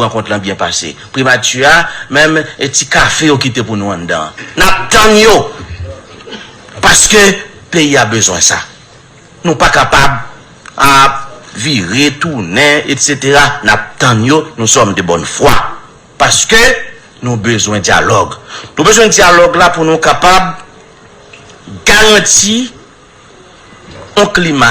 Rankont lan byen pase. Primati a menm e ti kafe yo kite pou nou anndan an. N ap tann yo! Paske peyi a bezwen sa. Nou pa kapab ap vire tounen etsetera. N ap tann yo. Nou sòm de bòn fwa. Paske nou bezwen dyalòg. Nou bezwen dyalòg la pou nou kapab garanti yon klima.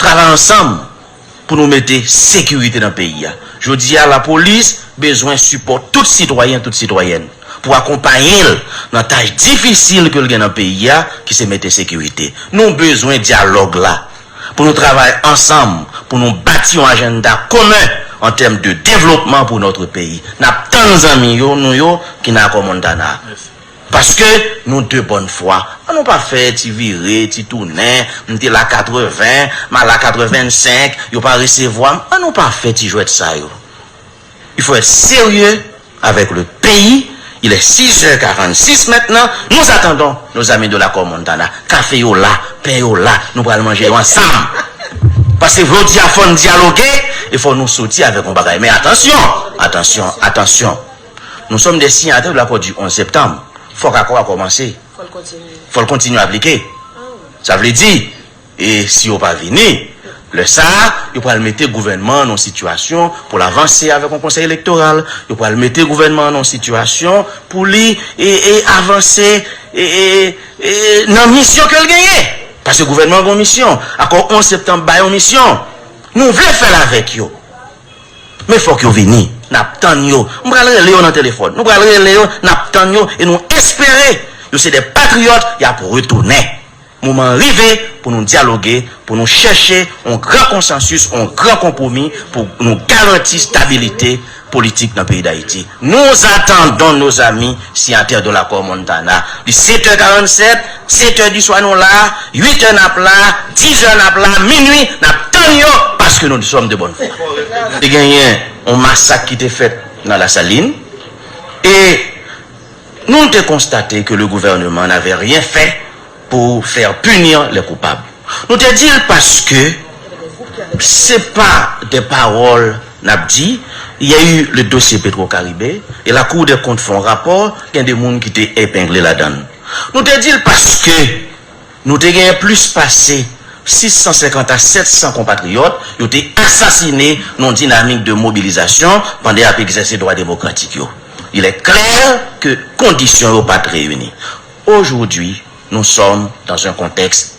Travay ansanm pou nou mete sekirite nan peyi a. Jodi a lapolis bezwen sipò tout sitwayen, tout sitwayèn pou akonpaye l nan tach difisil ke l gen nan peyi a ki se mete sekirite. Nou bezwen dyalòg la pou nou travay ansanm pou nou bati yon ajenda komen an tèm de devlopman pou notre peyi. N ap tann zanmi yo nou yo ki nan Akò Montana a. Paske nou de bòn fwa, an nou pa fè ti vire, ti tounen, m te la 80, m a la 85, yo pa resevwa m, an nou pa fè ti jwèt sa yo. Il faut être sérieux avec le pays, il est 6 heures 46 maintenant, nous attendons nos amis de l'accord Montana, kafe yo la, pen yo la, nou pral manje yo ansanm. Paske jodi a fò n dyaloge e fò nou soti avèk yon bagay. Men atansyon, atansyon, atansyon. Nou sòm dè siyatè de lakò di 11 septanm. Fòk akò a kòmanse. Fò l kontinye aplike. Sa vle di, e si yo pa vini, lè sa a, yo pral mete gouvènman an nan yon sitiyasyon pou l avanse avèk yon konsèy elektoral. Yo pral mete gouvènman an nan yon sitiyasyon pou li avanse nan misyon ke l genyen. Paske gouvènman an gen yon misyon. Akò 11 septanm ba yo misyon. Nou vle fè l avèk yo. Men fòk yo vini. N ap tann yo. M pral rele yo nan telefòn. Nou pral rele yo, n ap tann yo e nou espere yo se de patriyòt, y ap retounen. Moman an rive pou nou dyaloge, pou nou chèche yon gran konsansis, yon gran konpwomi pou nou garanti stabilite politik nan peyi Dayiti. Nous attendons nos amis signataires de l'accord Montana. Li 7 è 47. 7 è di swa nou la, 8 è nap la, 10 è nap la, minwi nap tann yo paske nou sòm de bòn fwa. Te genyen yon masak ki te fèt nan Lasalin e nou te konstate ke le gouvèneman navè ryen fè pou fèr punir lè koupab. Nou te dil paske se pa dè paròl nap di, yè u le dosye Petro Karibe e lakou dè kont fon rapò, gen de moun ki te epengle ladann. Nou te di l paske nou te genyen plis pase 650 a 700 konpatriyòt yo te asasine nan yon dinamik de mobilizasyon pandan y ap egzèse dwa demokratik yo. Il est clair que kondisyon yo pa t reyini. Aujourd'hui, nous sommes dans un contexte.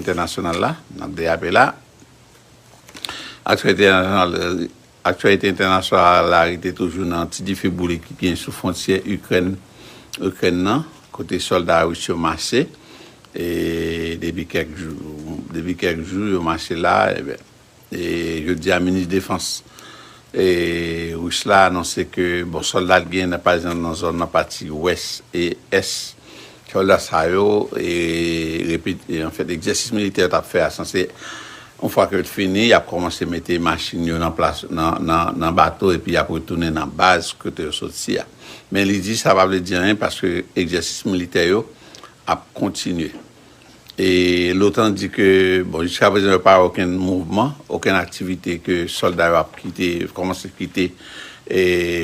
Entènasyonal la, n ap deyape la. Aktyalite entènasyonal la rete toujou nan ti dife boule ki genyen sou fwontyè Ikrèn nan, kote sòlda ris yo mache depi kèk jou. Depi kèk jou yo mache la. Jodi a minis defans Ris la anonse ke bon sòlda li genyen pa ekzanp nan zòn nan pati wès e ès sòlda sa yo repete anfèt ekzèsis militè yo tap fè a sanse yon fwa ke yo t fini yap kòmanse mete machin yo nan plas nan bato epi yap retounen nan baz kote yo soti a men li di sa pa vle di anyen paske ekzèsis militè yo ap kontinye. E l'OTAN di ke bon jiska prezan yo pa wè okenn mouvman, okenn aktivite ke sòlda yo ap kite, kòmanse kite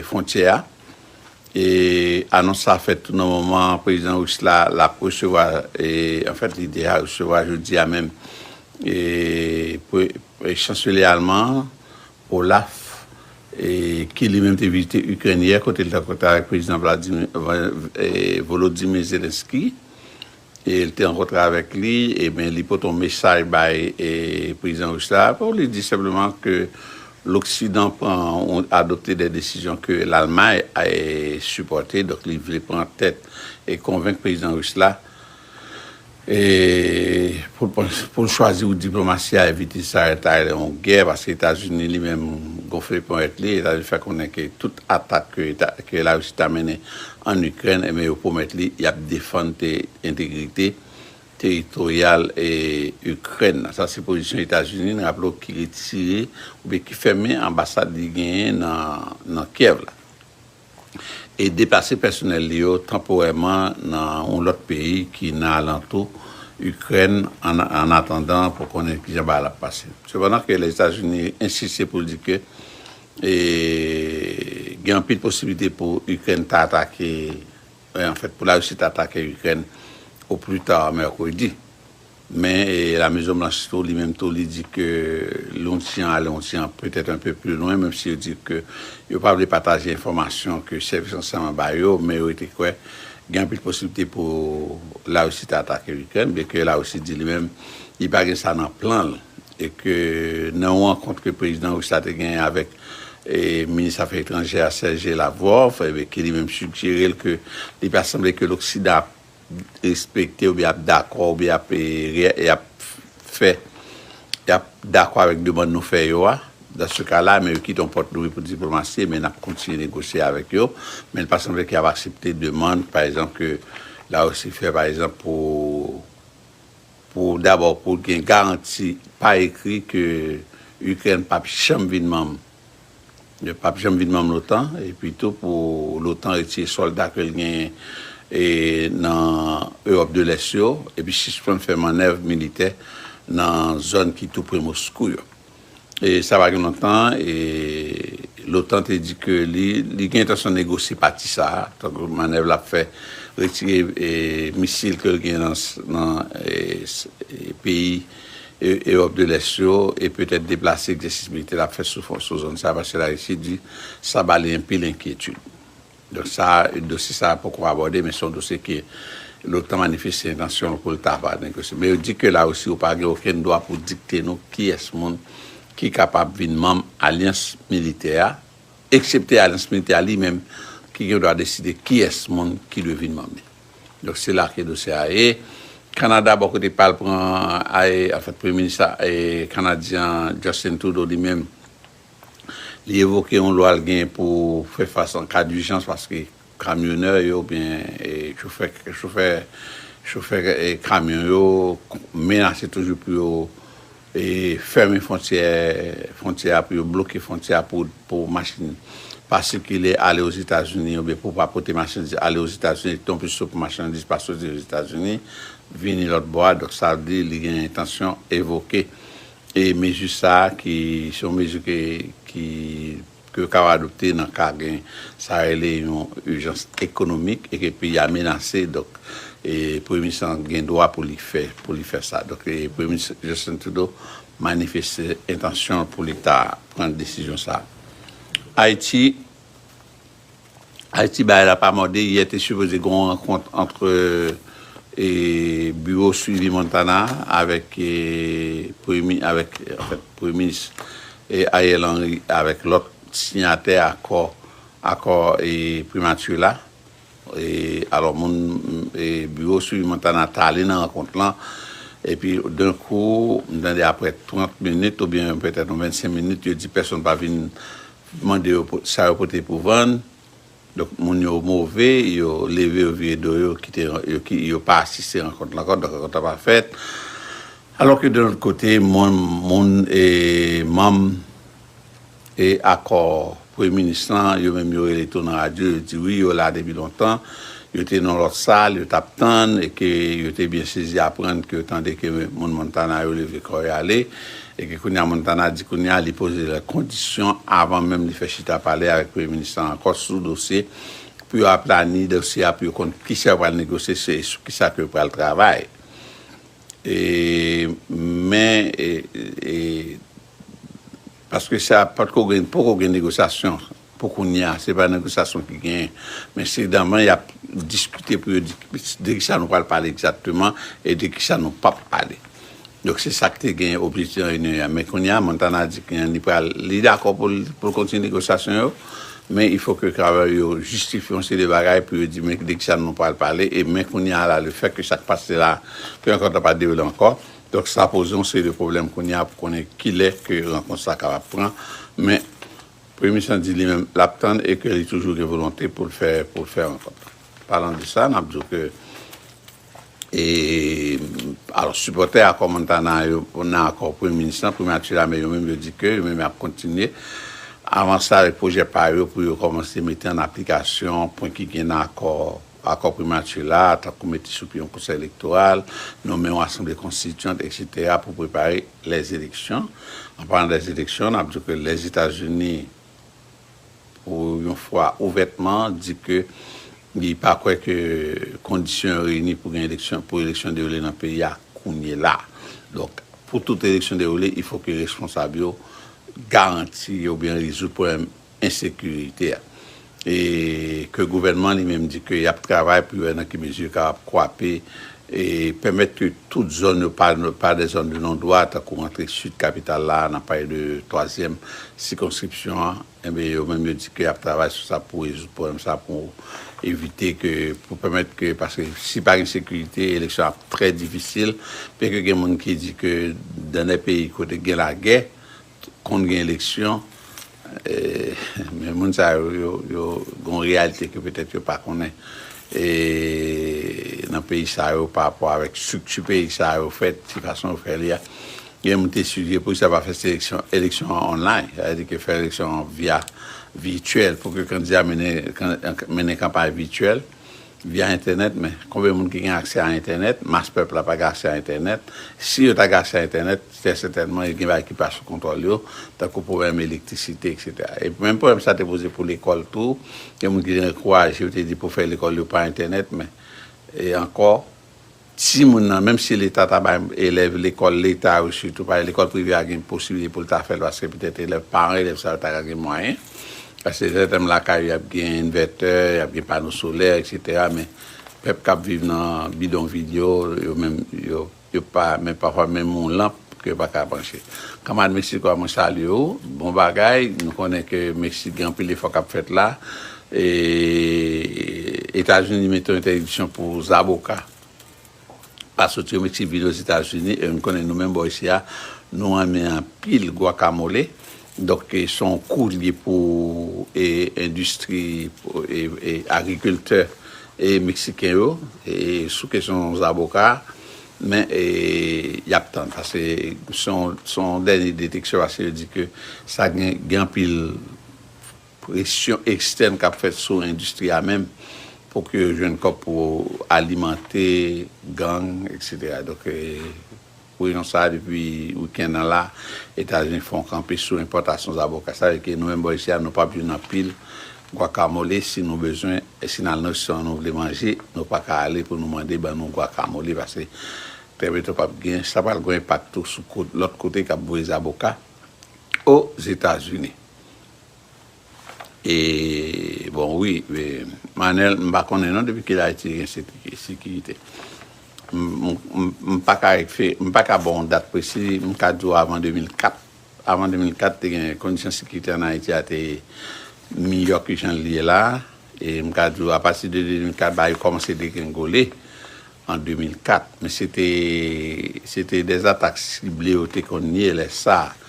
fwontyè a. E anons sa fèt tou nan moman prezidan ris la l'ap resevwa, anfèt li deja resevwa jodi a menm chanselyè alman an, Olaf, ki li menm te vizite Ikrèn yè kote li te rankontre avèk prezidan Volodymyr Zelensky. e li te rankontre avèk li, e ben li pote yon mesaj bay prezidan ris la, pou li di senpleman ke loksidan pran, adopte de desizyon ke Lalmay sipòte, donk li vle pran tèt e konvenk prezidan ris la e pou l chwazi wout diplomasi a evite sa rete la rele yon gè, paske Etazini li menm gonfle ponyèt li, Etazini fè konnen ke tout atak ke Larisi ta mennen ann Ikrèn enben yo pwomèt li y ap defann entegrite teritoryal Ikrèn nan. Sa se pozisyon Etazini, n raple w, ki retire oubyen ki fèmen anbasad li genyen nan Kyèv la e deplase pèsonèl li yo tanporèman nan yon lòt peyi ki nan alantou Ikrèn ann atandan pou konnen kijan bagay la ap pase. Sepandan ke Lèzetazini ensiste pou l di ke E gen anpil posibilite pou Ikrèn ta atake, anfèt pou Larisi ta atake Ikrèn o pli ta mèkredi. Men La Mezon Blanch tou, li menm tou li di ke yon ti jan ale yon ti jan petèt un peu plus loin, menm si yo di ke yo pa vle pataje enfòmasyon ke sèvis ransèyman ba yo, men yo rete kwè gen anpil posibilite pou Larisi ta atake Ikrèn, byenke Larisi di li menm li pa gen sa nan plan l e ke nan yon rankont ke prezidan ris la te genyen avèk minis afè etranjè a Sergey Lavrov, ke li menm sigjere l ke li pa sanble ke loksidan ap respekte oubyen ap dakò oubyen ap fè, ap dakò avèk demann nou fè yo a, dans ce cas là, men yo kite yon pòt louvri pou diplomasi, men nap kontinye negosye avèk yo, men li pa sanble ke yap aksepte demann pa egzanp ke Larisi fè pa egzanp pou Pou dabò pou gen garanti pa ekri ke Ikrèn p ap janm vin manm p ap janm vin manm l'otan epi tou pou l'otan retire sòlda ke l genyen nan Ewòp de Lès yo epi sispann fè mannèv militè nan zòn ki tou pre Moskou yo. Sa pa gen lontan, l'OTAN te di ke li gen entansyon negosye pati sa a, tankou manèv l ap fè, retire misil ke l gen nan peyi Ewòp de Lès yo, e petèt deplase egzèsis militè l ap fè sou zòn sa a, paske Larisi di sa ba li anpil enkyetid. Donk sa a, dosye sa a poko abòde men se yon dosye ke l'OTAN manifeste entansyon l pou l ta va negosye. Men yo di ke La Risi ou pa gen okenn dwa pou dikte nou kiyès moun ki kapab vin manm alyans militè a, eksepte alyans militè a li menm ki gen dwa deside kiyès moun ki dwe vin manm li. Donk se la ke dosye a ye. Kanada bò kote pa l pran, anfen premye minis kanadyen an Justin Trudeau li menm, Li evoke yon lwa l genyen pou fè fas an ka dijans paske kamyonè yo oubyen chofè kamyon yo menase toujou pou yo fèmen fontyè a, pou yo bloke fontyè a pou machin pa sikile ale Ozetazini oubyen pou pa pote machandiz ale Ozetazini epi tonplis tou pou machandiz pa soti Ozetazini vini lòtbò a. Donk sa vle di li gen entansyon evoke. E mezi sa ki se yon mezi ke ki ke yo kab adopte nan ka gen sa rele yon ijans ekonomik e ke peyi a menase donk e premye minis lan gen dwa pou li fè pou li fè sa donk e premye minis Justin Trudeau manifeste entansyon l pou leta pran desizyon sa Ayiti. Ayiti bagay la pa mòde, yè te sipoze gen yon rankont antre biwo swivi Montana avèk premye minis Ariel Henry avèk lòt siyatè akò akò primati la, alò moun biwo swivi Montana ta ale nan rankont lan epi denkou m tande aprè 30 minit oubyen petèt yon 25 minit yo di pèsonn pa vin Mande yo sa yo pote pou vann. Donk moun yo move, yo leve yo vire do yo kite yo pa asiste rankont la ankò, donk rankont la pa fèt. Alò ke de lòt kote moun e manm e akò premye minis lan yo menm yo rele tou nan radyo yo di wi yo la depi lontan, yo te nan yon lòt sal yo tap tann e ke yo te byen sezi aprann ke yo tande ke moun Montana yo leve kò yo ale. Epi kounya Montana di kounya li poze lè kondisyon avan menm li fè chita pale avèk premye minis lan ankò sou dosye pou yo aplani dosye a pou yo konn kisa yo pral negosye se sou kisa ke yo pral travay e men e paske sa patko gen poko gen negosyasyon. Pou kounye a, se pa negosyasyon ki genyen, men se daman y ap diskite pou yo di de kisa nou pral pale egzakteman e de kisa nou p ap pale. Donk, se sa k te genyen objektif nan reyinyon yè. Men kounye a, Montana di ke li pral, li dakò pou l kontinye negosyasyon yo, men il fo ke Carver yo jistifye yon seri de bagay pou yo di men de kisa nou pral pale e men kounye a la le fèt ke sa k pase la ke rankont la pa dewoule ankò. Donk, sa poze yon seri de pwoblèm kounye a pou konnen kilè ke rankont sa kapab pran, men. Premye Minis lan di li menm l ap tann e ke li toujou gen volonte pou l fè pou l fè rankont lan. Palan de sa, n ap di w ke e alò sipòtè akò Montana yo nan akò Premye Minis lan, Primati Lame yo menm yo di ke yo menm y ap kontinye avanse avèk pwojè pa yo pou yo kòmanse mete an aplikasyon pwen ki gen nan akò Akò Primati la a, tankou mete sou pye yon Konsèy Elektoral, nonmen yon Asanble Konstitiyant, eksetera, pou prepare lèzeleksyon. An palan dèzeleksyon, n ap di w ke Lèzetazini, pou yon fwa ouvètman, di ke li pa kwè ke kondisyon yo reyini pou gen eleksyon, pou eleksyon dewoule nan peyi a kounyela. Donk, pou tout eleksyon dewoule, il fo ke responsab yo garanti oubyen rezoud pwoblèm ensekirite a e ke gouvènman li menm di ke yap travay pou yo wè nan ki mezi yo kapab kwape e pèmèt ke tout zòn yo pa de zòn de non dwa tankou antre sid kapital la nap pale de twazyèm sikonskripsyon an enben yo menm yo di ke yap travay sou sa pou rezoud pwoblèm sa pou evite ke pou pèmèt ke paske si pa gen sekirite eleksyon ap trè difisil byen ke gen moun ki di ke dan dè peyi kote gen lagè Konn gen eleksyon, men moun sa yo, yo gen yon reyalite ke petèt yo pa konnen nan peyi sa yo pa rapò avèk estrikti peyi sa yo fèt, ki fason yo fè li a. Gen moun te sigjere poukisa pa fè seleksyon, eleksyon an online, sa vle di ke fè eleksyon an via vityèl pou ke kandida mennen kanpay vityèl. via entènèt men konbyen moun ki gen aksè a entènèt, mas pèp la pa gen aksè a entènèt, si yo ta gen aksè a entènèt trè sètènman yo gen bagay ki pa sou kontwòl yo tankou pwoblèm elektrisite eksetera epi menm pwoblèm sa te poze pou lekòl tou gen moun ki te ankouraje yo te di pou fè lekòl yo pa entènèt men e ankò Timoun nan, menm si leta ta bay elèv lekòl leta yo sitou, paske lekòl prive a gen posiblite pou l ta fè l paske petèt elèv paran elèv sa yo ta ka gen mwayen, paske sètènman lakay yo y ap gen envètè, y ap gen pano solè eksetera men pèp k ap viv nan bidonvil yo, yo menm yo yo pa men pafwa menm yon lanp ke yo pa ka branche. Kanmad Mesico a mwen salye ou, bon bagay, nou konnen ke Mesik gen anpil efò k ap fèt la, Etazini mete yon entèdiksyon pou zaboka pa soti o Meksik vini Ozetazini e nou konnen nou menm bò isi a nou renmen anpil guacamole donk se yon kou li ye pou endistri e agrikiltè meksiken yo sou kesyon zaboka a men y ap tann paske se yon dènye deteksyon paske yo di ke sa gen anpil Presyon ekstèn k ap fèt sou endistri a menm pou ke yo jwenn kòb pou alimante gang eksetera. Donk pou rezon sa a depi wikenn an la Etazini fon kanpe sou enpòtasyon zaboka. Sa vle ke nou menm bò isi a nou pap jwenn anpil gwakamole si nou bezwen si nan restaurant nou vle manje nou pa ka ale pou nou mande ban nou gwakamole pase trè byento pap gen. Sa pral gon enpak tou sou lòt kote k ap voye zaboka Ozetazini. E bon wi Manel m pa konnen non depi kilè Ayiti gen sekirite. M pa ka ekfe, m pa ka ba w yon dat presi, m ka di w avan 2004. Avan 2004 te gen kondisyon sekirite an Ayiti a te miyò ke jan l ye la. E m ka di w apati de 2004 bagay yo kòmanse degrengole. an 2004, men se te se te de atak sible yo te konn ye lè sa a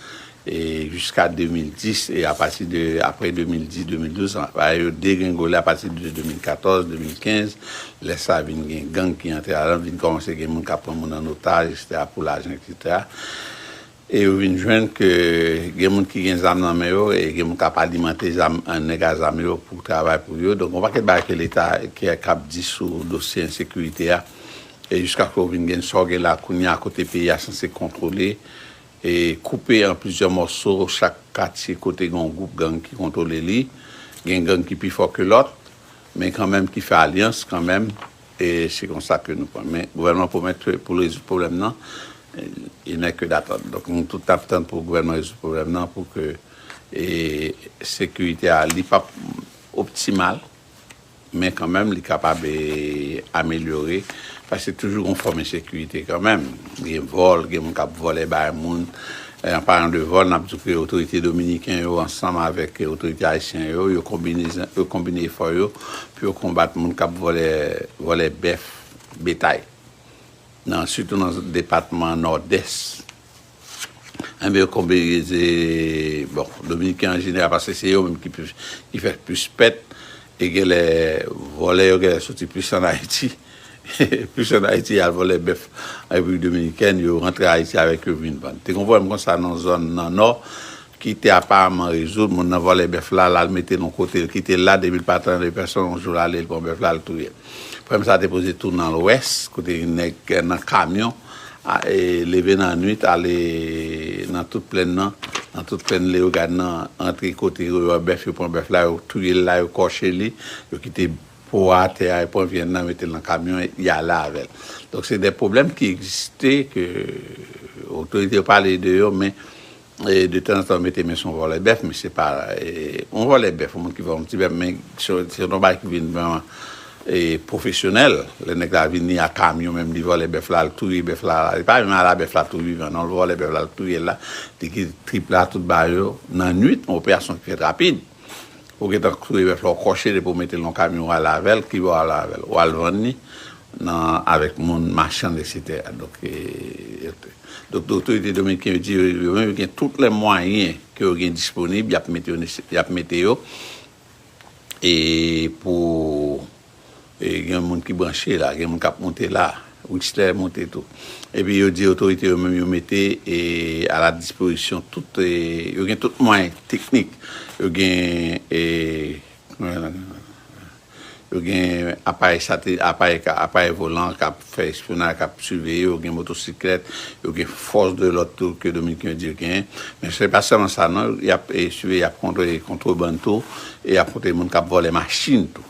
e jiska 2010 e apati de aprè 2010, 2012 bagay yo degrengole apati de 2014, 2015 lè sa vin gen gang ki antre ladan l vin kòmanse gen moun k ap pran moun an otaj eksetera pou lajan eksetera. E yo vin jwenn ke gen moun ki gen zam nan men yo e gen moun k ap alimante zam, nèg a zam yo pou travay pou yo. Donk yon pakèt bagay ke leta k ap di sou dosye ensekirite a e jiskaske ou vin gen sa ou gen la kounye a kote peyi a sanse kontwole e koupe an plizyè mòso. Chak katye kote gen yon gwoup gang ki kontwole li. Gen gang ki pi fò ke lòt men kanmenm ki fè alyans kanmenm E se konsa ke nou pran. Men gouvènman pwomèt ke pou l rezoud pwoblèm nan, il nè ke datann. Donk nou tout ap tann pou gouvènman rezoud pwoblèm nan pou ke sekirite a li pap optimal men kanmenm li kapab amelyore paske toujou gon fòm ensekirite kanmenm. Gen vòl, gen moun k ap vòlè bay moun, An palan de vòl, n ap di ke otorite dominiken yo ansanm avèk otorite ayisyen yo, yo konbine efò yo pou yo konbat moun k ap vòlè bèf betay, sitou nan depatman Nòdès. Enben, yo konbine, bon, dominiken an jeneral, paske se yo menm ki fè plis pèt, e genlè vòlè yo genlè soti plis an Ayiti. Plis an Ayiti al vòlè bèf an Repiblik Dominikèn, yo rantre Ayiti avèk yo vin vann. Te gen yon pwoblèm konsa nan yon zòn nan Nò ki te aparamman rezoud, moun nan vòlè bèf la, l al mete l yon kote, l kite l la, depi l pa tande pèsonn, yon jou l ale, l pran bèf la, l touye l. Pwoblèm sa te poze tou nan Lwès, kote gen nèg nan kamyon, leve nan nuit, ale nan tout plenn nan, nan tout plenn Leyogàn nan, rantre kote yo wè bèf, yo pran bèf la, yo touye l la, yo kòche li, yo kite. Po a, tè a, e pran vyann nan mete l nan kamyon e y ale avè l. Donk se de pwoblèm ki egziste ke otorite yo pale de yo men de tan zan tan yo mete men sou yon vòlè bèf men se pa yon vòlè bèf yon moun ki vòlè yon ti bèf men se yon bagay ki vin vreman pwofesyonèl lè nèg la vini a kamyon menm li vòlè bèf la al touye bèf la li pa menm al a bèf la tou vivan non li vòlè bèf la al touye l la li kite trip la tout ba yo nan nuit yon operasyon ki fèt rapid. Ou gentan touye bèf la ou kòche depi ou metel nan kamyon wale avèl kibo wap ale avèl wal vann li nan avèk moun machann etc donk otorite dominiken yo di yo menm yo gen tout lè mwayen ke yo gen disponib yap mete yo e pou gen yon moun ki branche la, gen yon moun kap monte la, Wikster monte tou. Epi yo di otorite yo menm yo mete a la dispozisyon tout, yo gen tout mwayen teknik, yo gen, yo gen aparèy satelit, aparèy, aparèy volan kap fè espyonaj, kap siveye yo, gen motosiklèt, yo gen fòs de lòd tou ke dominiken yo di yo genyen. Men se pa sèlman sa non, yap siveye, yap kontwole kontrebann tou, e yap kontwole moun kap vòlè machin tou.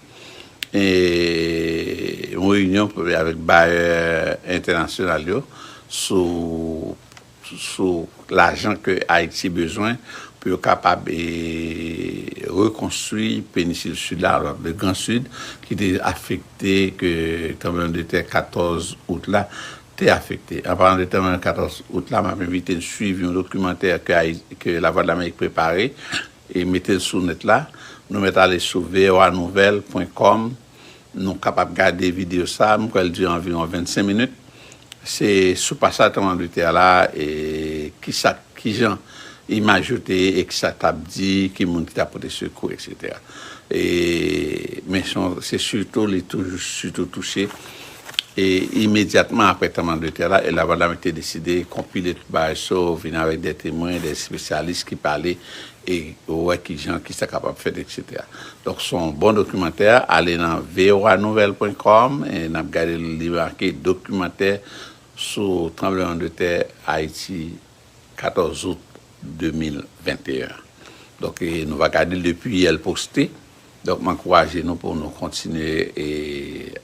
yon reyinyon avèk bayè entènasyonal yo sou lajan ke Ayiti bezwen pou yo kapab rekonstwi penisil Sid la, le Gran Sid, ki te afekte ke tranbleman de tè 14 out la te afekte. An palan de tranbleman 14 out la, m ap envite n swiv yon dokimantè ke Lavwadlamerik prepare E mete l sou nèt la. Nou mèt ale sou voanouvèl pwen kòm nou kapab gade videyo sa a. M kwè l dire anviwon 25 minit. Se sou pasaj tranblanmante a la e ki sa ki jan imaj yo te ye e ki sa t ap di, ki moun ki t ap pote sekou eksetera. E men se sitou li toujou sitou touche. E imedyatman apre tranbleman de tè la, Ella Vandamme te deside konpile tout bagay sa yo, vini avèk de temwen, de espesyalis ki pale e wè ki jan, ki sa kapab fèt eksetera. Donk se yon bon dokimantè, ale nan voa nouvèl pwen kòm e n ap gade l li make dokimantè sou tranbleman de tè Ayiti. 14 out 2021 donk nou pa gadel depi yè l poste donk m ankouraje nou pou nou kontinye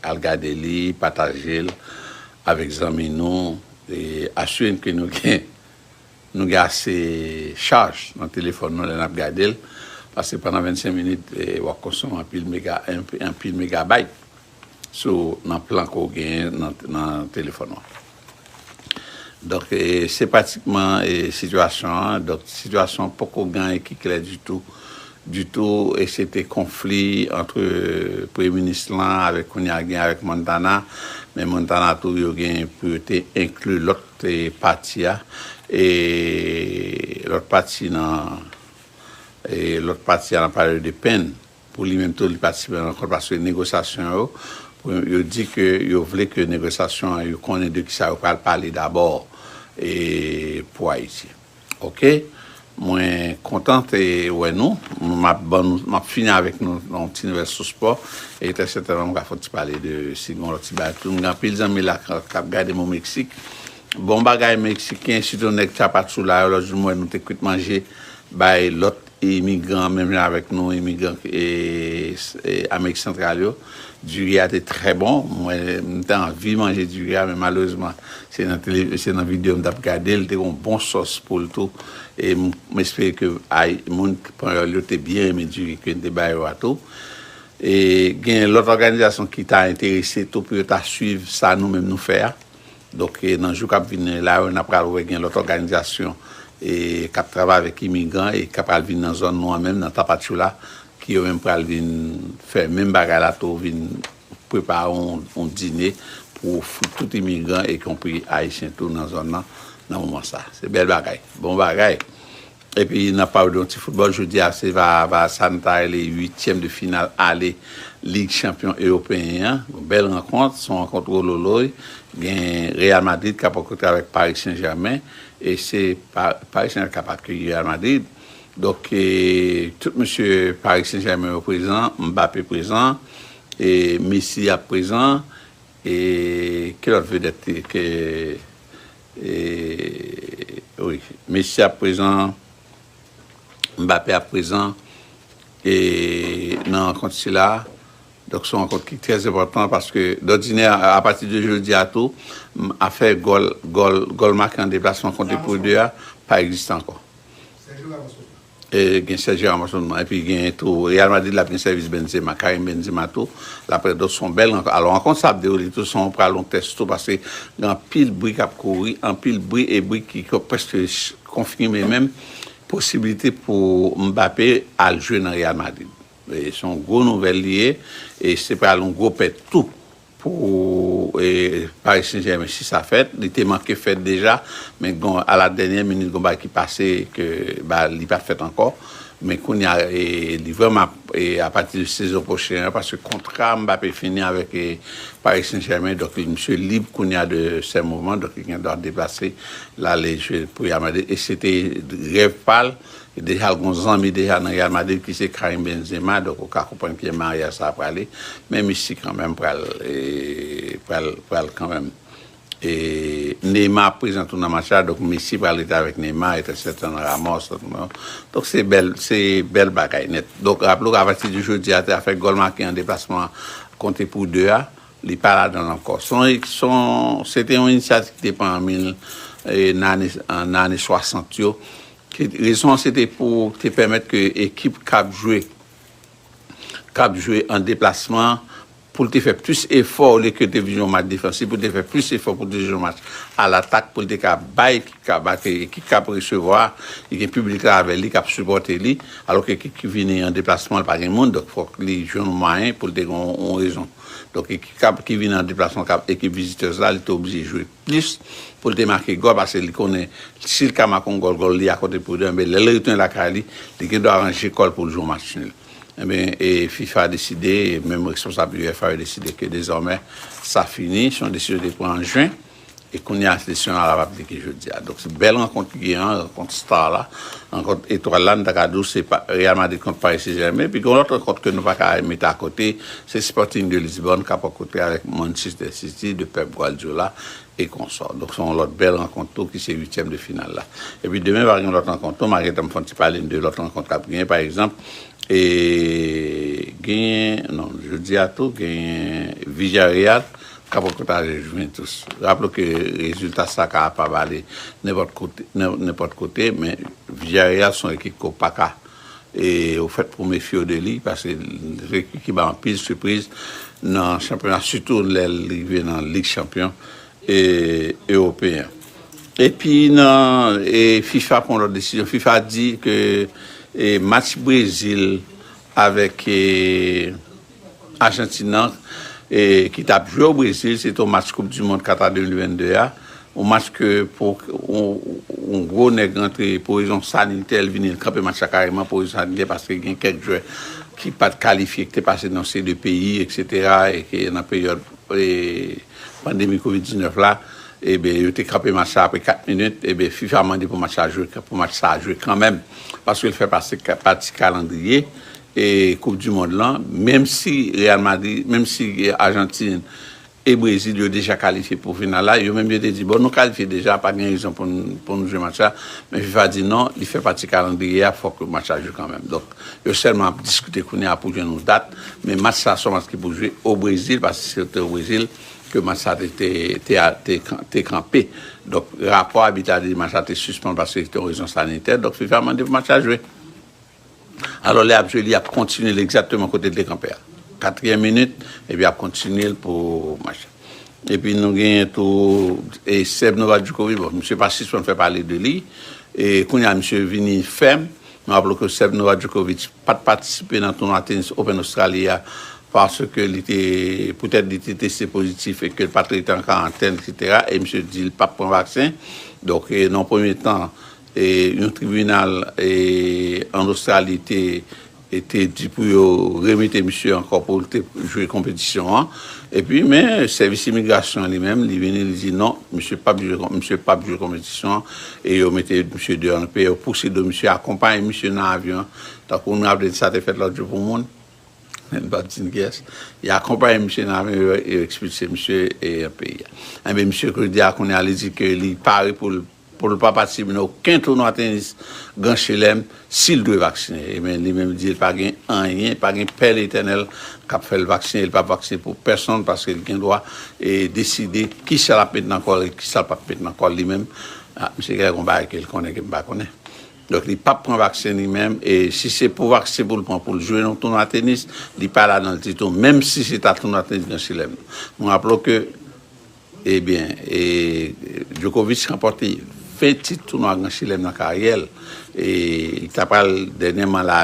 al gade li pataje l avèk zanmi nou e asire n ke nou gen nou gen ase chaj nan telefòn nou lè nap gade l paske pandan 25 minit wap konsome anpil mega anpil megabayt sou nan plan ke w genyen nan telefòn ou an. Donk se pratikman sitiyasyon an, donk sitiyasyon an poko gen anyen ki klè ditou, ditou e se te konfli antre premye minis lan avèk kounye a gen avèk Montana, men Montana tou yo gen pou yo te enkli lòt pati a, e lòt pati nan, e lòt pati a nan pale de Penn. Pou li menm tou li patisipe nan rankont paske negosyasyon yo pou yo di ke yo vle ke negosyasyon an yo konnen de kisa yo pral pale dabò e pou Ayiti ok mwen kontan te wè nou map ban nou map fini avèk nou yon ti nouvèl sou spò e trè sètènman mga fè yon ti pale de si gon lòt ti bagay tou mga anpil zanmi la kap gadem o Meksik bon bagay Meksiken sitou nèg Tchapatchoula yo lòt jou m wè nou te kwit manje bay lòt Imigran menm jan avèk nou imigran amerik santral yo diri a te trè bon mwen m te anvi manje diri a men malerezman se nan video m tap gade l te gen yon bon sòs pou l tou e m espere ke moun panyòl yo te byen renmen diri ke n te ba yo a tou e gen lòt òganizasyon ki ta enterese tou pou yo ta swiv sa nou menm nou fè a. Donk nan jou kap vini la yo nap pral wè gen lòt òganizasyon kap travay avèk imigran e kap pral vin nan zòn nou an menm nan Tapachula ki yo menm pral vin fè menm bagay la tou vin prepare yon dine pou ofri tout imigran e konpri ayisyen tou nan zòn nan nan moman sa. Se bèl bagay. Bon bagay. Epi n ap pale de yon ti foutbòl jodi a se va sa nou ta rele uityèm de final ale lig chanpyon ewopeyen an yon bèl rankont se yon rankont wololoy gen Real Madrid k ap rankòntre avèk Paris Saint Germain e se Paris Saint Germain k ap akeyi Real Madrid donk tout mesye Paris Saint Germain yo prezan Mbappé prezan e Messi ap prezan e ki lòt vedèt ke Eeh wi Messi ap prezan, Mbappé ap prezan e nan rankont sila a. Donk son rankont ki trè enpòtan paske dòdinè a pati de jodi a tou afè gòl gòl gòl make an deplasman kont de pou 2 a pa egziste ankò. Gen Sergio Ramos nan moman epi gen tou Real Madrid la ap gen sèvis Benzema, Karim Benzema tou l ap prè. Donk se yon bèl rankont. Alò rankont sa ap dewoule tou san yon pral yon tès tou paske gen anpil bri k ap kouri, anpil bri e bri ki prèske konfime menm posiblite pou Mbappé al jwe nan Real Madrid. Se yon gwo nouvèl li ye e se pral yon gwo pèt tou Pou Paris Saint Germain si sa fèt, li te manke fèt deja, men gon a la dènyè minit gon bagay ki pase ke ba li pa fèt ankò, men kounya li vrèman ap a pati de sezon pwochen an paske kontra Mbappé fini avèk Paris Saint Germain donk misye lib kounya de sè mouvman donk li gen dwa deplase lale jwe pou Real Madrid e se te rèv pal Deja l gon zanmi deja nan Real Madrid ki se Karim Benzema donk ou ka konprann kijan maryaj sa a prale men Messi kanmenm pral pral pral kanmenm e Neymar ap prezan tou nan match la donk Messi pral rete avèk Neymar et un certain Ramos donk se bèl se bèl bagay nèt donk raple w apati de jodi a zafè gòl make an deplasman konte pou 2 a. Li pa ladan l ankò. Se te yon inisyativ ki te pran nan ane 60 yo. Rezon an se te pou te pèmèt ke ekip k ap jwe, k ap jwe an deplasman, pou l te fè plis efò olye ke l te vin yon match defansif, pou l te fè plis efò pou l te jwe yon match alatak, pou l te ka bay ekip k ap ake, ekip k ap resevwa, li gen piblik la avè li k ap sipòte li. Alò ke ekip ki vini an deplasman, li pa gen moun, donk fòk li jwenn yon mwayen pou l te gen yon rezon. Donk ekip kap ki vin an deplasman kap ekip visitors la li te oblije jwe plis poul te make gòl pase li konnen sil ka make yon gòl gòl li a konte pou 2 enben lèl retounen lakay li li gen dwa ranje kòl poul jwe yon match nul enben e fifa deside menm responsab uefa yo deside ke dezòmè sa fini son desizyon yo te pran an juin. E kounya se syon a lap aplike jodi a. Donk se bèl rankont ki gen an, rankont star la, rankont etwal la, nou ta ka di w se Real Madrid kont Paris Saint Germain, epi gen lòt rankont ke nou pa ka mete a kote, se Sporting de Lisbonne kap a kote avèk Manchester City de Pep Guardiola e konsò. Donk se yon lòt bèl rankont tou ki se uityèm de final la. Epi demen va gen lòt rankont tou, ma gentan fon ti pale n de lòt rankont kap genyen pa egzanp e genyen non jodi a tou genyen Villarreal ka poko ta jwen tou. Raple w ke rezilta sa ka pa vale nenpòt kote men Villarreal son ekip ke w pa ka e ou fèt pou w mefye w de li paske se ekip ki bay anpil sipriz nan chanpyona sitou lè l rive nan lig chanpyon e ewopeyen. Epi nan fifa pran lòt desizyon, fifa di ke match Brezil avèk Ajantin an ki tap jwe o Brezil, se te yon match koup di mond Kata 2022 a, yon match ke pou yon gwo nèg rantre pou rezon sanitè li vini li kanpe match la kareman pou rezon sanitè paske gen kèk jwè ki pat kalifye ki te pase nan seri de peyi eksetera e ke nan peryòd pandemi covid 19 la eben yo te kanpe match la apre 4 minit eben fifa mande pou match la jwe pou match sa jwe kanmenm paske li fè pase pati kalandriye e koup du mond lan menm si real madrid menm si argentine e brazil yo deja kalifye pou final la yo menm yo te di bon nou kalifye deja pa gen rezon pou pou nou jwe match la men fifa di non li fè pati kalandriye a fòk match la jwe kanmenm donk yo sèlman ap diskite kounye a pou jwenn yon dat men match sa son match ki pou jwe o brezil paske se te o brezil ke match sa te te te a te te kanpe donk rapò abit la te di match la te sispann paske se te yon rezon sanitè donk fifa mande pou match la jwe. Alò, lè y ap jwe li, y ap kontinye l egzakteman kote l te kanpe a. Katriyèm minit, epi y ap kontinye l pou match la. Epi nou genyen tou Seb Novajukovic, bon, misye pa sispann fè pale de li. E kounye a misye vini fèm. Nou raple w ke Seb Novajukovic pa t patisipe nan tounwa tenis Open Ostrali a paske li te, poutèt li te teste pozitif e ke l pa t rete an karantèn, eksetera, e misye di li p ap pran vaksen. Donk, nan yon premye tan, Yon tribinal an Ostrali te di pou yo remete misye ankò pou l te jwe konpetisyon an. Epi men sèvis imigrasyon an li menm li vini li di non misye p ap jwe misye p ap jwe konpetisyon an e yo mete misye deyò nan peyi yo pouse do misye akonpaye misye nan avyon an tankou w nou raple n sa te fèt lòt jou pou moun men m p ap di n kiyès y akonpaye misye nan avyon yo ekspilse misye nan peyi a. Enben misye kounye a li di ke li pare pou l pou l pa patisipe nan oken tounwa tenis Gran Chelèm si l dwe vaksinen. E men li menm li di l pa gen anyen, pa gen Pè Letènèl k ap fè l vaksinen, li p ap vaksinen pou pèsonn paske l gen dwa deside ki sa l ap met nan kò l e ki sa l p ap met nan kò l li menm. A, misye gen lè gen yon bagay ke l konnen ke m pa konnen. Donk li p ap pran vaksen li menm e si se pou vaksen pou l pran pou l jwe nan tounwa tenis, li pa ladan l ditou menm si se ta tounwa tenis Gran Chelèm. Nou raple w ke. Ebyen, e Djokovic ranpòte 20 tit tounwa Gran Chelèm nan karyè l, e li ta pral dènyèman la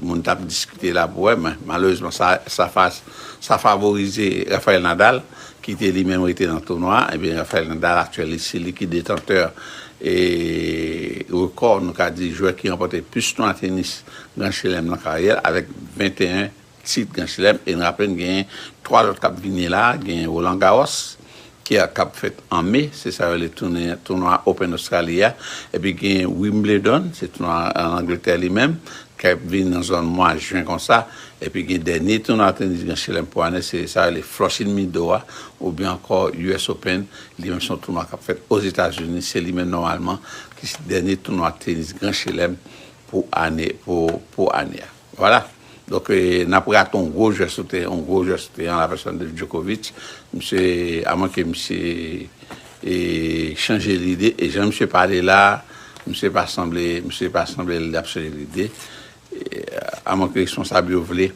moun t ap diskite la pou wè men malerezman sa favorize Rafael Nadal ki te li menm rete nan tounwa a, ebyen Rafael Nadal aktyèl li se li ki detantè e rekò nou ka di jwè ki ranpòte plis tounwa tenis Gran Chelèm nan karyè l avèk 21 tit Gran Chelèm e n raple n gen 3 lòt k ap vini la, gen Roland Garros ki a k ap fèt an me, se sa yo rele tounwa Open Ostrali a, epi gen Wimbledon, se tounwa an Angletè li menm, k ap vini nan zòn mwa jen kon sa, epi gen dènye tounwa tenis Gran Chelèm pou ane, se sa yo rele Flushing Meadow a, oubyen ankò US Open, li menm se yon tounwa k ap fèt Ozetazini, se li menm nòmalman ki se dènye tounwa tenis Gran Chelèm pou ane a. Vwala! Donk n ap rate yon gwo jwè sou teren, yon gwo jwè sou teren an la pèsòn de Djokovic. Misye, a mwen ke misye chanje lide, e jan misye pale la a, misye pa sanble, misye pa sanble l ap chanje lide. A mwen ke responsab yo vle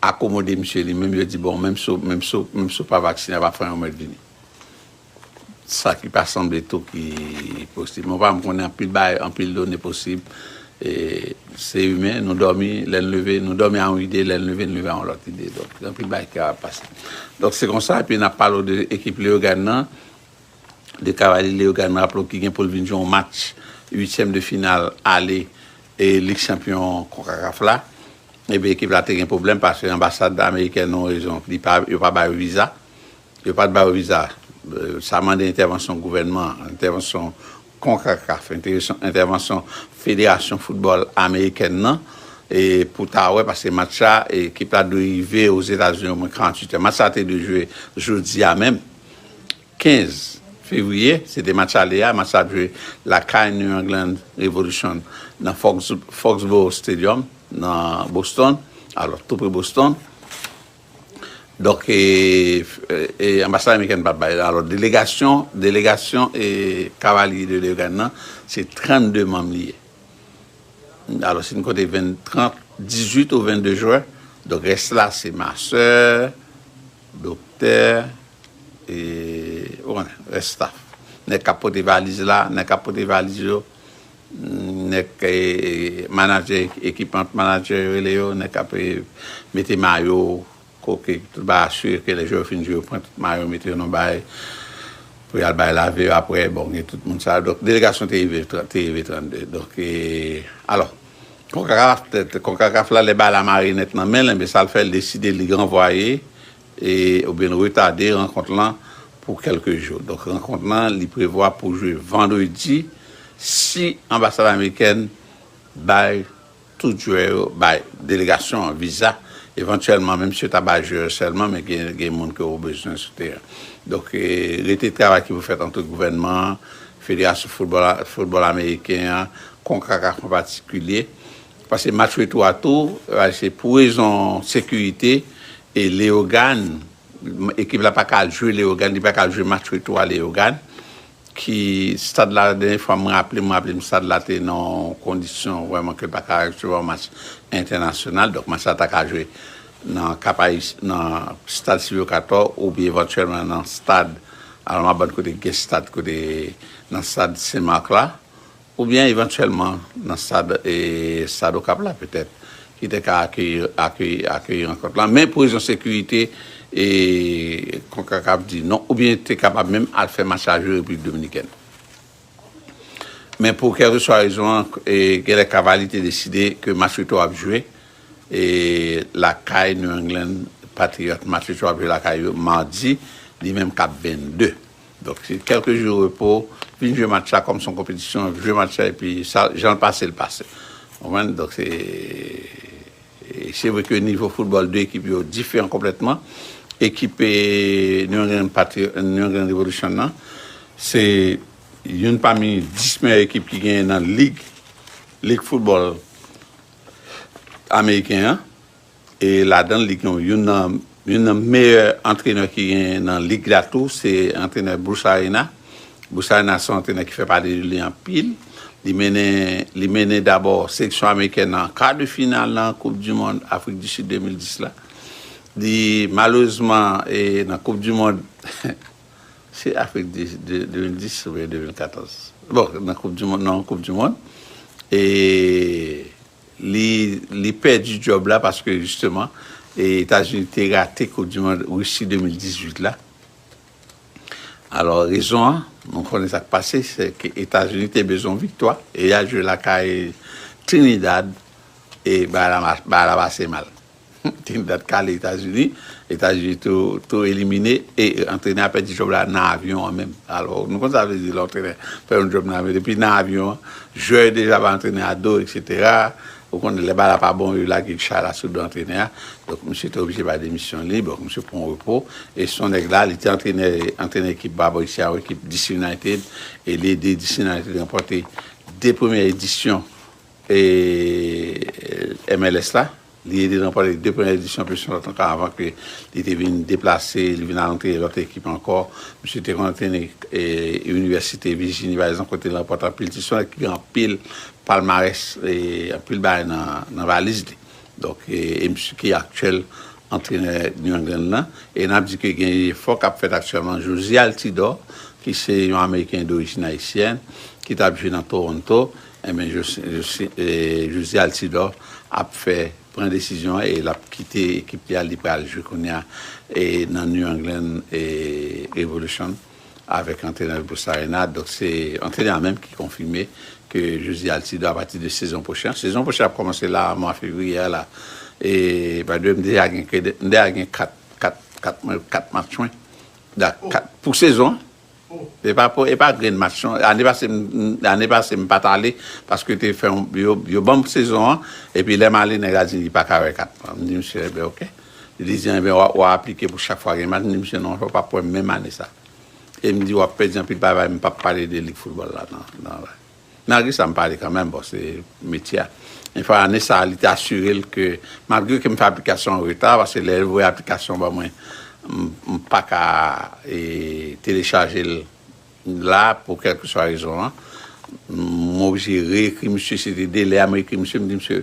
akomode misye, li menm yo di bon, menm si w pa vaksinen, a pa fè anyen w mèt vini. Sa ki pa sanble tou ki posib. Mwen pa m konnen anpil bagay, anpil done posib. Se imen, nou dòmi, lè n leve, nou dòmi a yon ide, lè n leve, n leve a yon lòt ide. Donk, gen anpil bagay ki kapab pase. Donk, se konsa, epi n ap pale w de ekip Leyogàn nan, de Kavalyè Leyogàn nan, raple w ki gen pou l vin jwe yon match uityèm de final ale Lig Chanpyon Konkakaf la. Ebyen, ekip la te gen pwoblèm paske anbasad amerikèn nou rezon, li pa, yo pa ba yo viza. Yo pat bayo viza. Sa mande entèvansyon gouvènman, entèvansyon Concacaf, entèvansyon federasyon football amerikèn nan pou ta wè paske match la ekip la dwe rive Ozetazini omwen 48 è. Match sa te dwe jwe jodi a menm 15 fevriye, se te match ale a, match sa ap jwe lakay New England Revolution nan Foxboro Stadium nan Boston, alò tou pre Boston. Donk anbasad amerikèn pa bay. Alò delegasyon, delegasyon Cavalier de Lorraine nan, se 32 manm li ye. Alò si nou konte 20, 30, 18 ou 22 jwè, donk rès la se masè, doktè, e ou konnen, rès staff. Nèg k ap pote valiz la, nèg k ap pote valiz yo, Nèg manadjè ekip an, manadjè yo rele yo, nèg k ap mete mayo, koke, tout bagay asire ke lè jwè yo fin jwe yo pran tout mayo yo mete yo nan yon bagay pou y al bay lave yo aprè, bon gen tout moun sa yo. Donk delegasyon te rive te rive 32. Donk alò konkakaf konkakaf la lè bagay la mare nèt nan men l enben sa l fè l deside li ranvwaye e oubyen retade rankont lan pou kèlke jou. Donk rankont lan li prevwa pou jwe vandredi si anbasad amerikèn bay tout jwè yo, bay delegasyon an viza, evantyèlman menm si yo ta bay jwè yo sèlman men gen moun ke ou bezwen sou teren. Donk rete travay ki pou fèt ant gouvènman an, federasyon foutbòl ameriken an, konkakaf an patikilye Pase match retou a tou a se pou rezon sekirite e Leyogàn, ekip la pa ka al jwe Leyogàn, li pa ka al jwe match retou a Leyogàn ki stad la dènye fwa m raple m raple m stad la te nan yon kondisyon vrèman ke l pa ka resevwa yon match entènasyonal donk match la ta ka jwe nan Kap Ayisyen nan stad Silvyo Katò oubyen evantyèlman nan stad Almaband kote gen stad kote nan stad Sen Mak la. Oubyen evantyèlman nan stad Stad Okap la petèt ki te ka akeyi rankont la men pou rezon sekirite Konkakaf di non oubyen te kapab menm al fè match la jwe Repiblik Dominikèn. Men pou kèlkeswa rezon an genlè Cavaly te deside ke match retou ap jwe lakay New England Patriots. Match retou ap jwe lakay yo madi li menm kap 22. Donk se kèlke jou repo, vin jwe match la kòm se yon konpetisyon, jwe match la epi sa jan l pase l pase. Ou konprann? Donk se e se vre ke nivo foutbòl 2 ekip yo diferan konplètman. Ekip New England Patri New England Revolution nan se youn pami 10 meyè ekip ki genyen nan lig lig foutbòl ameriken an. E ladan li gen youn nan youn nan meyè antrenè ki genyen nan lig la tou, se antrenè Bruce Arena. Bruce Arena se yon antrenè ki fè pale de li anpil. Li mennen li mennen dabò seleksyon amerikèn nan an ka de final nan koup di mond Afrik di Sid 2010 la. Li malerezman e nan koup di mond se Afrik di Sid 2010 oubyen 2014? Bon nan koup di mond nan koup di mond e Li li pèdi djòb la paske jisteman Etazini te rate koup di mond Risi 2018 la. Alò rezon an nou konnen sa k pase se ke Etazini te bezwen yon viktwa e y al jwe lakay Trinidad e bagay la bagay la pase mal. Trinidad kale etazini, etazini tou elimine e antrenè a pèdi djòb la nan avyon an menm alò nou konn sa vle di lè antrenè fè yon djòb nan avyon depi nan avyon an jwè yo deja ba antrenè a do eksetera ou konnen lè bal la pa bon yo lage chay la sou do antrenè a donk misye te oblije bay demisyon li bon misye pran repo e son nèg la li te antrenè antrenè ekip ba bò isi a yon ekip DC United e li ede DC United ranpòte 2 premyè edisyon e MLS la. Li ede nan pale de premyè edisyon Pulsion lòt anka avan ke li te vin deplase, li vin al antre lòt ekip ankò. Misye te konn antrene Inivèsite Vijini pa egzanp kote li ranpòte anpil tit. Se yon nèg ki gen anpil palmarès, anpil bagay nan valiz li. Donk, e misye ki aktyèl antrenè New England nan. E n ap di ke gen jefò k ap fèt aktyèlman. Jozy Altidor ki se yon ameriken dorijin ayisyèn ki t ap jwe nan Toronto Enben Josy Altidor ap fè pran desizyon an e lap kite ekip li a li pral jwe kounya nan New England Revolution avèk antrenè l Bruce Arena donk se antrenè a menm ki konfime ke Josy Altidor apati de sezon pwochen an sezon pwochen an ap kòmanse la a mwa fevriye a la e by the way m deja gen 4 kat kat kat match mwen pou sezon an. Epa po epa grenn match non ane pase ane pase m pat ale paske te fè yon yo banm sezon an epi lèm ale nèg la di li paka wè kat m di misye enben ok li di jan enben wa aplike pou chak fwa gen match m di misye non ou pap wèm menm ane sa e m di wap pèdi anpil bagay m pap pale de lig football la nan. Malgre sa m pale kanmenm, bon se metye a. Yon fwa ane sa a li te asire l ke malgre ke m fè aplikasyon an reta, paske lè l voye aplikasyon ban mwen m pa ka telechaje l la pou kèlkeswa rezon an, m oblije re-ekri misye, se te de lè a m ekri misye m di misye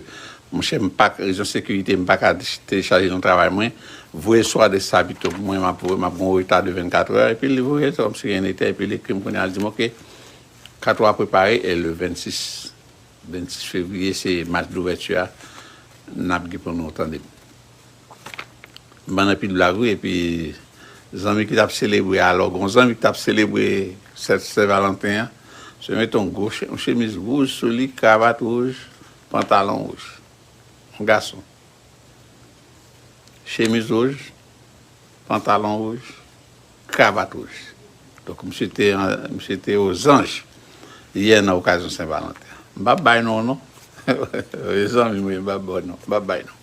monchè m pa rezon sekirite m pa ka telechaje l nan travay mwen, voye l sou adrès sa pito pou mwen m ap gen yon reta de 24 è epi li voye l se kòmsi ren n etè epi li ekri m kounya li di m ok. Kat ou a prepare e le 26 26 fevriye se match douvèti a nap gen pou nou tandem. M bann anpil blag wi epi zanmi ki tap selebre alò gon zanmi ki tap selebre fèt sen valanten an se met on gwo on chemiz wouj sou li kravat wouj pantalon wouj on gason chemiz wouj pantalon wouj. Kravat wouj. Donk misye te misye te ozanj yè nan okazyon Sen Valanten. M pap bay non w non. Wi zanmi m wi m pap ba w non. M pap bay non.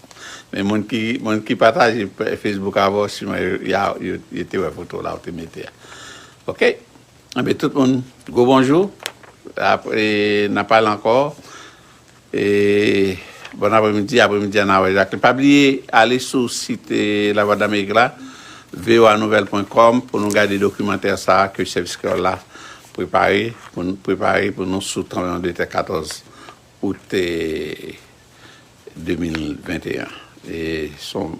Men moun ki moun ki pataje Facebook avè w siman ya yo yo te wè foto w la ou te mete a. Ok. Enben tout moun gwo bonjou. Apre n ap pale ankò. Bon apremidi, apremidi an Awèj ak li. Pa bliye ale sou sit Lavwadlamerik la, voanouvèl pwen kòm pou nou gade dokimantè sa a ke Sèvis Kreyòl la prepare pou nou prepare pou nou sou tranbleman de tè 14 out 2021. Son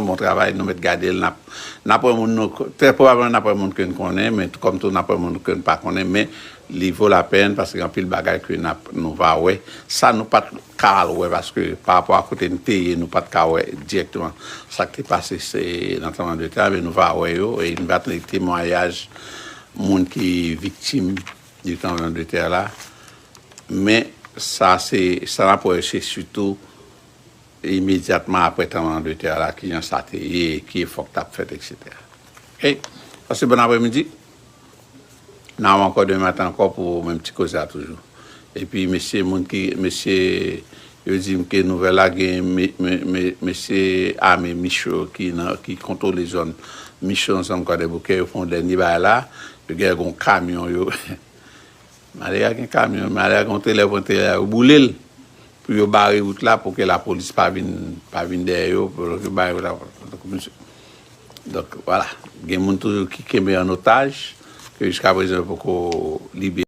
bon travay nou mèt gade l nap wè moun nou trè pwobableman nap wè moun ke n konnen men kòm tou nap wè moun ke n pa konnen men Li vo la pèn paske gen anpil bagay ke nap nou va wè sa nou pat ka al wè paske pa rapò a kote n te ye nou pat ka wè dirèkteman sa k te pase se nan tranbleman de tè a men nou va wè yo e nou va tande temwayaj moun ki viktim de tranbleman de tè la men sa se sa nap wè se sitou imedyatman aprè tranbleman de tè la kijan sa te ye ki efò k tap fèt eksetera ok pase bon aprè midi. Now ankò demen maten ankò pou menm ti koze a toujou. Epi mesye moun ki mesye yo di m ke nouvèl la gen mesye ame Micho ki nan ki kontwole zòn Micho ansanm Kwadèboukè yo fè yon dènye bagay la, yo gen lè gen yon kamyon yo. Malè a gen kamyon, malè a gen yon trelè pran trelè a yo boule l pou yo bare wout la pou ke lapolis pa vin pa vin dèyè yo pou yo ki bare wout la donk misye donk wala gen moun toujou ki kenbe an otaj ke jiskaprezan yo poko libere.